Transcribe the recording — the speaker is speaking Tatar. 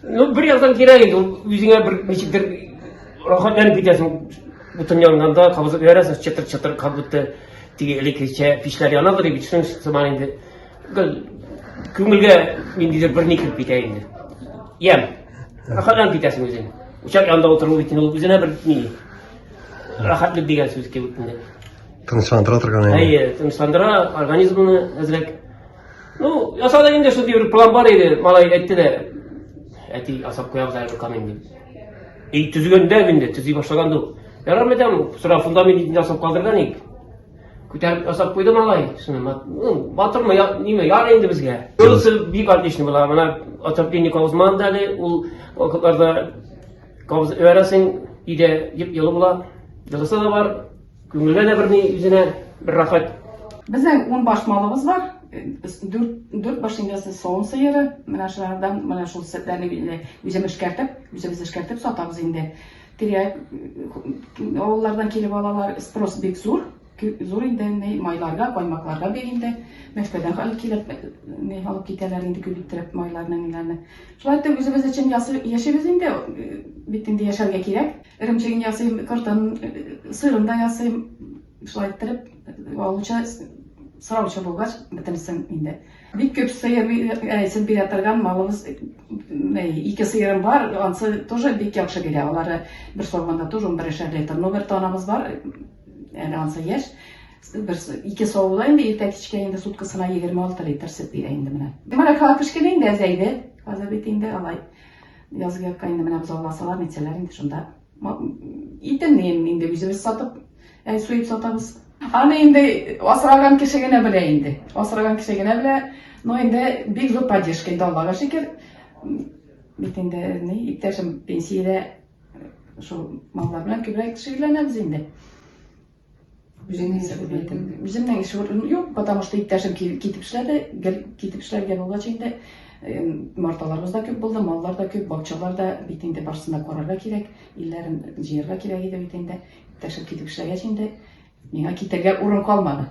Ну, бер яктан кирәк инде, үзеңә бер ничектер рәхәтләнеп китәсең. Утын янганда кабызып ярасың, чытыр-чытыр, как будто теге элеккечә пичләр янадыр дип битсен сыман инде. Күңелгә ниндидер бер никеп китә инде. Ям. Рәхәтләнеп китәсең үзең. Учак янында утыру бит инде үзенә бер ни. Рәхәтлек дигән сүз кебек инде. Тынычландыра торган инде. Әйе, тынычландыра организмны әзрәк. Ну, ясады инде шундый бер план бар иде, малай әйтте дә. Әти асап куябыз әле камин дип. И төзегәндә инде, төзи башлаганда ук. Ярар идем, сора фундамент инде асап калдырган ик. Күтәреп асап куйды малай. Шуны ну, батырмы, я, ниме, яр инде безгә. Юлсы бик отлично була. Менә атапкенник узман да әле, ул вакытларда кавыз өрәсең, иде, дип елы була. Дөресе дә бар. Күңелгә дә берни үзенә бер рәхәт. Безнең ун баш малыбыз бар. Дүрт баш индесе савым сыеры. Менә шулардан менә шул сөтләрне билле үзем эшкәртеп, үзебез эшкәртеп сатабыз инде. Тирә авыллардан килеп алалар. Спрос бик зур. Зур инде ни майларга, каймакларга бик инде. Мәскәүдән алып килеп, ни алып китәләр инде күбиттереп майларны ниләрне. Шулай итеп үзебез өчен яшибез инде. Бит инде яшәргә кирәк. Эремчеген ясыйм, кортын, сырын да ясыйм. Шулай иттереп, алучы сораучы булгач, бетерсен инде. Бик күп сыер әйсен бирә торган малыбыз ике сыерым бар, ансы тоже бик яхшы бирә. Алары бер савганда тоже 11 литр. Но бер танабыз бар, әле ансы яшь. Бер ике савуда инде иртә кичкә инде суткасына 26 литр сөт бирә инде менә. Димәк, кала кечкенә инде әзәйде. Хәзер бит инде алай Язгы якка инде менә бозау аласалар, нитсәләр инде шунда. Итемне инде үзебез сатып, ә суеп сатабыз. Аны инде асраган кеше генә белә инде. Асраган кеше генә белә. Но инде бик зур поддержка инде Аллага шөкер. Бит инде ни, иптәшем пенсиядә шул маллар белән күбрәк шөгыльләнәбез инде. Үзеңнең эшләп белмәдең. Үземнең эш урыным юк, потому что иптәшем китеп эшләде, гел китеп эшләргә булгач инде марталарыбыз да күп булды, маллар да күп, бакчалар да бит инде барсын да карарга кирәк, илләрен җыярга кирәк иде бит инде. Иптәшем китеп эшләгәч инде миңа китәргә урын калмады.